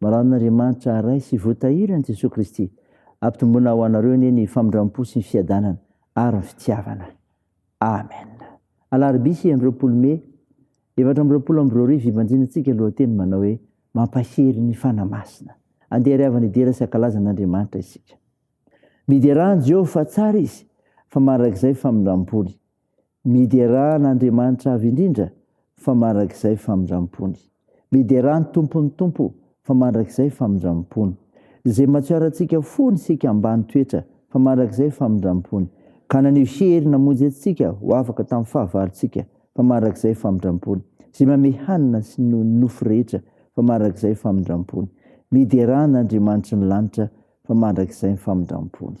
Maraon'Andriamanitra Ray sy Voatahiran'i Jesoa Kristy, ampitomboina ho anareo anie ny famindram-po sy ny fiadanana ary ny fitiavana. Amen. Alarobia enina amby roapolo Mey efatra amby roapolo amby roa arivo ibanjinantsika lohateny manao hoe Mampahery ny Fanahy Masina. Andeha ry havana hidera sy hankalaza an'Andriamanitra isika. Miderà an'i Jehovah fa tsara izy, fa mandrakizay famindram-pony. Miderà an'Andriamanitra Avo Indrindra fa mandrakizay famindram-pony. Miderà ny Tompon'ny Tompo fa mandrakizay famindram-pony. Izay matsioarantsika fony isika ambany toetra fa mandrakizay famindram-pony, ka naneho hery namonjy antsika ho afaka tamin'ny fahavalontsika fa mandrakizay famindram-pony. Izay manome hanina sy ny nofo rehetra fa mandrakizay famindram-pony. Miderà an'Andriamanitry ny Lanitra fa mandrakizay famindram-pony.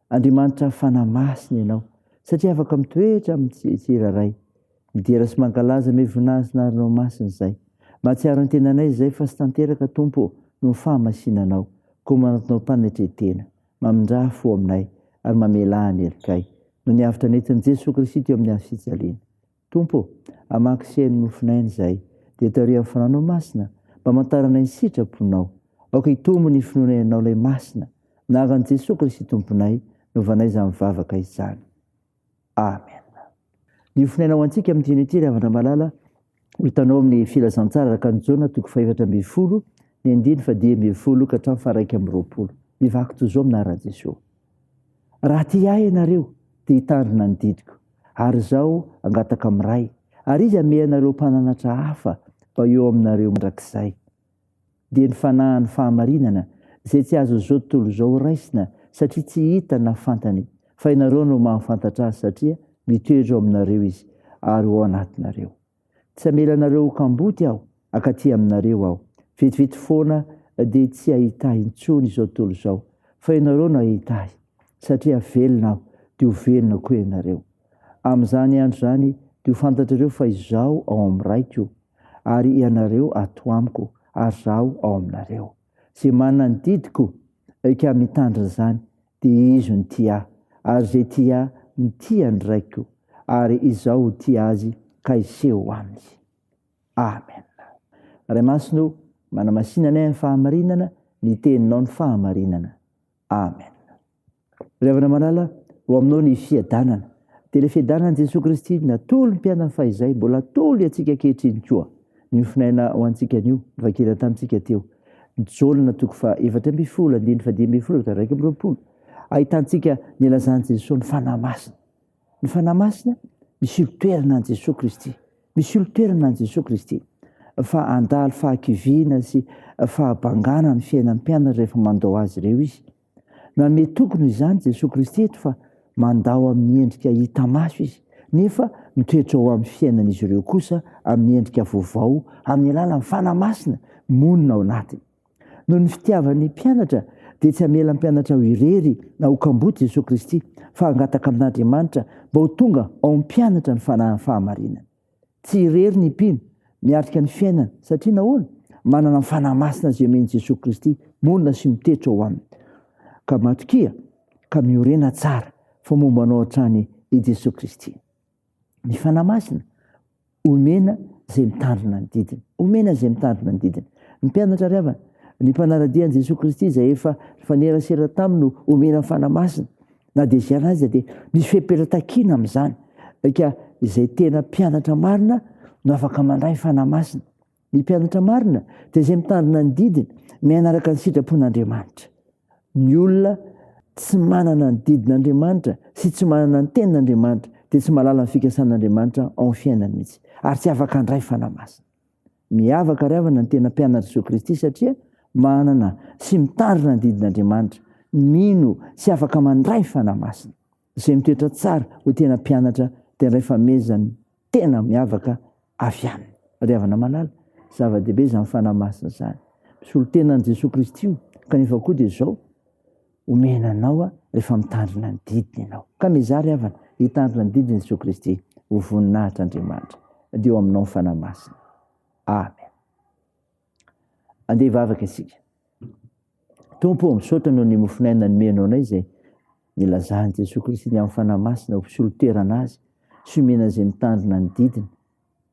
Andriamanitra fanahy masina ianao satria afaka mitoetra amin'ny tsirairay. Midera sy mankalaza ny hoe vonahazinarinao masina izay. Mahatsiaro ny tenanay izay fa tsy tanteraka Tompo ô noho ny fahamasina anao. Koa manantonao mpanetretena, mamindrà fo aminay ary mamelà ny helikay. Noho ny avotra nentin'i Jesoa Kristy teo amin'ny hazo fijaliana. Tompo ô, hamaky sy haino nofin'aina izahay, dia tario amin'ny fananao masina, mba hamantarana ny sitraponao. Aoka hitombo ny finoana Ianao ilay Masina, nahaka an'i Jesoa Kristy Tomponay, novanay izany vavaka izany. Amen. Ny ofinaina ho antsika amin'ny tian'ity ry havana malala, ho hitanao amin'ny filazantsara araka an'i Jaona toko fahefatra ambin'ny folo, ny andiny fadimy ambin'ny folo ka hatramin'ny faharaika amby roapolo. Mivaky toy izao amin'aran'i Jesoa. Raha tia Ahy ianareo, dia hitandrina ny didiko, ary Izaho hangataka amin'ny Ray, ary Izy hamehy anareo Mpananatra hafa mba eo aminareo mandrakizay. Dia ny Fanahy ny fahamarinana, izay tsy azon'izao tontolo izao raisina, satria tsy hita na fantany, fa ianareo no mahafantatra Azy, satria mitoetra ao aminareo Izy, ary ao anatinareo. Tsy hamela anareo ho kamboty aho, akaty aminareo aho. Vetivety foana dia tsy hahita ahy intsony izao tontolo izao, fa ianareo no hahita ahy. Satria velona aho, dia ho velona koa ianareo. Amin'izany andro izany dia ho fantatrareo fa izaho ao amin'ny Raiko, ary ianareo ato amiko, ary izaho ao aminareo. Izay manana ny didiko ka mitandrina izany Dia izy no tia ahy, ary izay tia ahy no tia ny Raiko, ary Izaho ho tia azy ka hiseho aminy. Amen. Ray Masina o, manamasina anay amin'ny fahamarinana, ny Teninao no fahamarinana. Amen. Ry havana malala, ho aminao ny fiadanana. Dia ilay fiadanan'i Jesoa Kristy natolony mpianany fahizay, mbola atolony antsika ankehitriny koa. Niofonaina ho antsika anio, novakiana tamintsika teo. Jona toko faha efatra ambin'ny folo, andininy faha dimy ambin'ny folo ka iraika amby roapolo. Ahitantsika ny ilazan'i Jesoa ny Fanahy Masina. Ny Fanahy Masina, misolo toerana an'i Jesoa Kristy. Misolo toerana an'i Jesoa Kristy. Fa handalo fahakiviana sy fahabangana ny fiainan'ny mpianany rehefa mandao azy ireo izy. Nanome toky-no izany Jesoa Kristy eto fa mandao amin'ny endrika hita maso Izy, nefa mitoetra ao amin'ny fiainan'izy ireo kosa amin'ny endrika vaovao amin'ny alalan'ny Fanahy Masina monina ao anatiny. Noho ny fitiavan'ny mpianatra dia tsy hamela ny mpianatra ho irery na ho kamboty Jesoa Kristy fa hangataka amin'Andriamanitra mba ho tonga ao amin'ny mpianatra ny Fanahiny fahamarinana. Tsy irery ny mpino miatrika ny fiainana. Satria nahoana? Manana ny Fanahy Masina izay omen'i Jesoa Kristy, monina sy mitetra ao aminy. Ka matokia ka miorena tsara fa momba anao hatrany i Jesoa Kristy. Ny Fanahy Masina omena izay mitandrina ny didiny. Omena izay mitandrina ny didiny. Ny mpianatra ry havana, ny mpanara-dia an'i Jesoa Kristy izay efa nifanerasera taminy no omena ny Fanahy Masina. Na dia izany aza dia misy fepetra takiana amin'izany. Eka izay tena mpianatra marina no afaka mandray fanahy masina. Ny mpianatra marina dia izay mitandrina ny didiny, miaina araka ny sitrapon'Andriamanitra. Ny olona tsy manana ny didin'Andriamanitra sy tsy manana ny tenin'Andriamanitra dia tsy mahalala ny fikasan'Andriamanitra ao amin'ny fiainany mihitsy ary tsy afaka handray fanahy masina. Miavaka ry havana ny tena mpianatra Jesoa Kristy satria manana sy mitarina ny didin'Andriamanitra, mino sy afaka mandray fanahy masina. Izay mitoetra tsara ho tena mpianatra dia ray famezany tena miavaka avy aminy. Ry havana malala, zava-dehibe izany fanahy masina izany. Misolo tena an'i Jesoa Kristy io, kanefa koa dia izao, omena anao rehefa mitandrina ny didiny ianao. Ka mizary havana, hitandrina ny didin'i Jesoa Kristy ho voninahitr' Andriamanitra, dia eo aminao ny Fanahy Masina. Amen. Andeha hivavaka isika. Tompo, misaotra noho ny mofon'aina nomenao anay izay nilazan'i Jesoa Kristy ny amin'ny Fanahy Masina ho mpisolo toerana azy sy omena izay mitandrina ny didiny.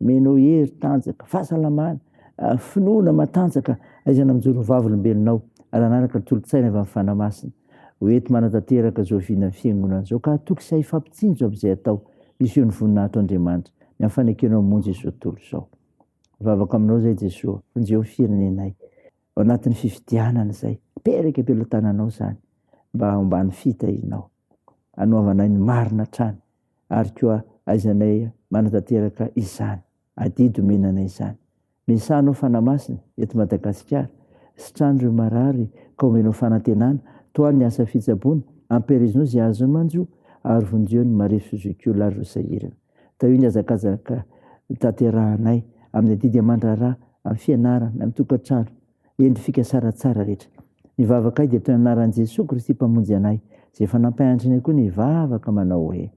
Mino hery tanjaka, fahasalamana, ah, finoana matanjaka aizana mijoro vavolombelonao raha nanaraka ny tolotsaina avy amin'ny fanahy masina. Ho ety manatanteraka izao vinan'ny fiangonana izao ka hatoky sy hahifapitsinjo amin'izay atao hiseho ny voninahitro Andriamanitra ny amin'ny fanekenao monja izao tontolo izao. Vavaka aminao izay Jesoa, vonjeo ny firenenay ao anatin'ny fifidianana izay. Pereka am-pelotananao izany mba homban'ny fitahinao. Anohavanay ny marina hatrany. ary koa aizanay manatanteraka izany adidy omena anay izany. Misaha anao Fanahy Masina eto Madagasikara, sitrano ireo marary ka omenao fanantenana, tohano ny asa fitsaboana, ampiherezinao izay azonao manjo ary vonjeo ny marefo sy zokiolona ary ireo sahirana. Tahio ny hazakazaka tanterahanay amin'ny adidy aman-draharaha, amin'ny fianarana, amin'ny tokantrano, Endry fikasara tsara rehetra. Ny vavakay dia toy ny anaran'i Jesoa Kristy Mpamonjy anay, izay efa nampahantrany ahy koa ny hivavaka manao hoe,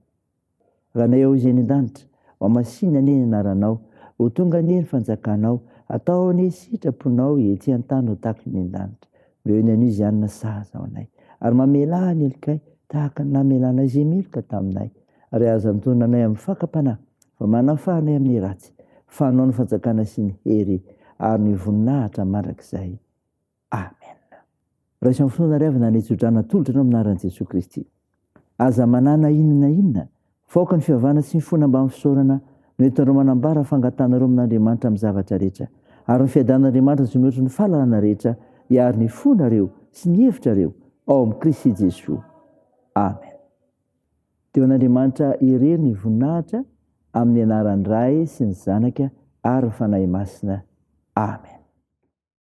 Ranay ao izay any an-danitra, ho hamasina anie ny anaranao, ho tonga anie ny fanjakanao, atao anie ny sitraponao ety an-tany ho tahaka ny any an-danitra. Omeo ny anio izany ny sahaza ho anay, ary mamelà ny helokay tahaka ny namelanao izay meloka taminay. Ary aza antonona anay amin'ny fakam-panahy, fa manafaha anay amin'ny ratsy, fa anao ny fanjakana sy ny hery ary ny voninahitra mandrakizay. Amen. Raiso amin'ny finoana ary avy nanitsy hodrana atolotra anao amin'ny anaran'i Jesoa Kristy. Aza manana inona na inona, fa aoka ny fiavahana sy ny fona mbamin'ny fisaorana no entinareo manambara fangatahanareo amin'Andriamanitra amin'ny zavatra rehetra, ary ny fiadanan'Andriamanitra izay mihoatra ny fahalalana rehetra hiaro ny fonareo sy ny hevitrareo ao amin'i Kristy Jesoa. Amen. Dia ho an'Andriamanitra irery ny voninahitra amin'ny anaran'ny Ray sy ny Zanaka ary ny Fanahy Masina. Amen.